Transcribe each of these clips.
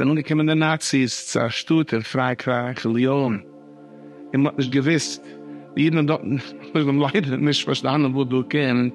זענען אנגעקומען די נאציס צו א שטאט אין פראנקרייך, ליאן, און מען האט נישט געוואוסט, די אידן דארטן האבן ליידער נישט פארשטאנען וואס דא קומט,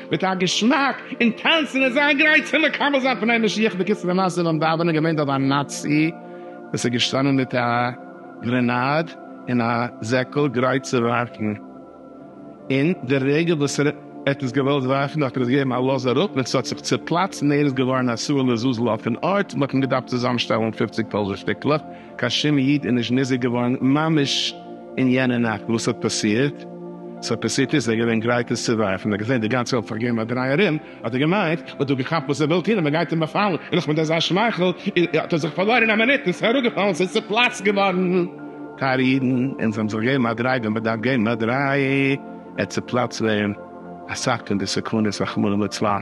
מיט א געשמאק און טאנצן און זיין גרייט צו מקבל זיין פני משיח, בקיצור די מעשה ביים דאווענען איז געווען דא א נאצי וואס איז געשטאנען מיט א גרענאד און א זעקל גרייט צו ווארפן, און די רגע וואס ער האט עס געוואלט ווארפן האט ער עס געגעבן א לאז אראפ און עס האט זיך צופלאצט און ער איז געווארן א סאה לעזאזל אויפן ארט, מען האט אים געדארפט צוזאם שטעלן פופציג טויזענט שטיקלעך. קיין שום איד איז נישט נזהר געווארן ממש אין יענע נאכט וואס ס'האט פאסירט, ס'האט פאסירט נישט, זיי געווען גרייט עס צו ווארפן, ער האט געזען די גאנצע וועלט פארגעבן א דריי ארום, האט ער געמיינט מען האט דא געכאפט וואס ער וויל טון און מען גייט אים באפאלן, און נאך מיט אזא שמייכל האט ער זיך פארלוירן אין א מינוט און ס'איז אראפגעפאלן, ס'איז צופלאצט געווארן. טייערע אידן, אונז האבן זיך געגעבן א דריי ווי מען דארף געבן א דריי, ער צופלאצט ווען אסאך פון די סכנות רחמנא לצלן.